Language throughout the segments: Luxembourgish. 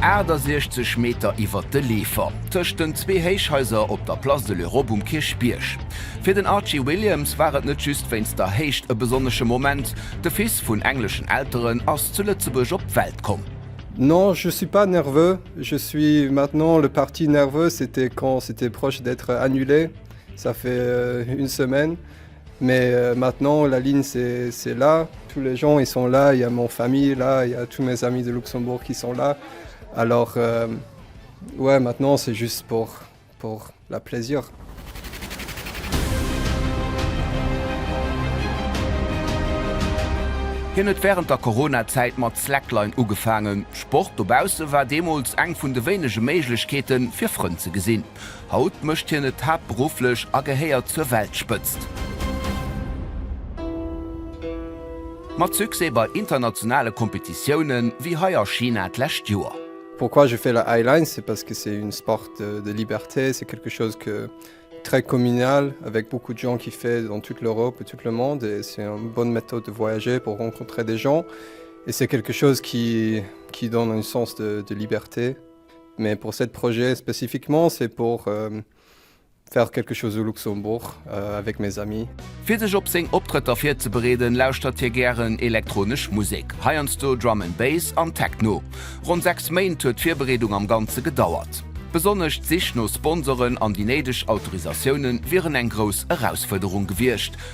68 Meter iwwert de Leefer, tëscht den zwee Héichhaiser op der Place de l'Europe um Kierchbierg. Fir den Archie Williams war et net just wéinst der Héicht e besonnesche Moment, de Fils vun engleschen Elteren ass zu Lëtzebuerg op d'Welt komm. Non, je suis pas nerveux, je suis maintenant le partie nerveuse, c'était quand c'était proche d'être annulé, ça fait une semaine. Mais maintenant la ligne c'est là, tous les gens ils sont là, il y a mon famille là, il y a tous mes amis de Luxembourg qui sont là alors ouais maintenant c'est juste pour pour la plaisir. Hien huet wärend der Corona-Zäit mat Slackline ugefaangen. Sport dobausse war deemools eng vun de wéinege Méiglechkeeten, fir Frënn ze gesinn. Haut mécht hien et haaptberufflech a gehéiert zur Weltspëtzt. Mat Succès bei internationale Kompetitiounen, wéi hei a China d'lescht Joer. Pourquoi je fais la high line c'est parce que c'est une sport de liberté, c'est quelque chose que très communal avec beaucoup de gens qui fait dans toute l'Europe et toute le monde et c'est une bonne méthode de voyager pour rencontrer des gens et c'est quelque chose qui qui donne un sens de liberté. Mais pour cette projet spécifiquement c'est pour faire quelque chose au Luxembourg avec mes amis. Fir sech op seng Optrëtter virzebereeden, lauschtert hie gären elektronesch Musek, heiansdo Drum and Bass an Techno. Ronn 6 Méint huet d'Virbereedung am Ganze gedauert. Besonnesch d'Sich no Sponsoren an déi néideg Autorisatioune wieren eng grouss Erausfuerderung gewiescht,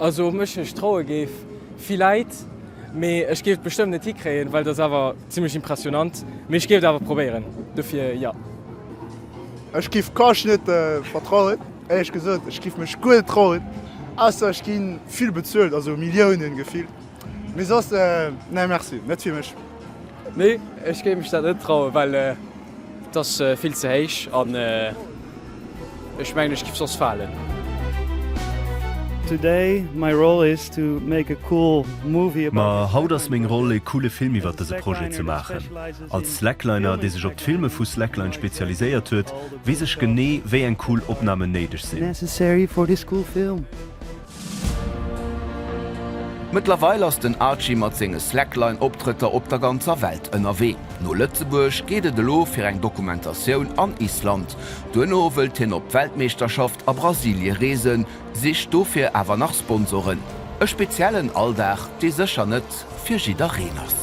Also op mech ech traue géif villäit, mee ech géif et bestëmmt net hikréien, well et ass awer zimlech impressionant, mee ech géif et awer probéieren, dofir jo. Ech giff d'Couche net vertrauen, éierlech gesot, ech giff mech guer net trauen, ausser ech ginn vill bezuelt, also Milliounen gefillt. Mee soss nee merci, net fir mech. Nee ech géif mech dat net trauen, well et ass vill ze héich an ech mengen ech giff soss falen. Today my role is to make a cool movie about. Ma haut ass meng Roll ee coole Film iwwert dëse Projet ze maachen. Als Slackliner dee sech op d'Filme vu Slackline spezialiséiert huet, weess ech genee wéi eng cool Opnamen néideg sinn. Necessary for this cool film. Mëttlerweil ass den Archie mat senge Slackline-Optrëtter op der ganzer Welt ënnerwee. No Lëtzebuerg geet et elo fir eng Dokumentatioun an Island. Duerno wëllt hien op d'Weltmeeschterschaft a Brasilie reesen, sicht dofir awer nach Sponsoren. E speziellen Alldag, dee sécher net fir jiddereen ass.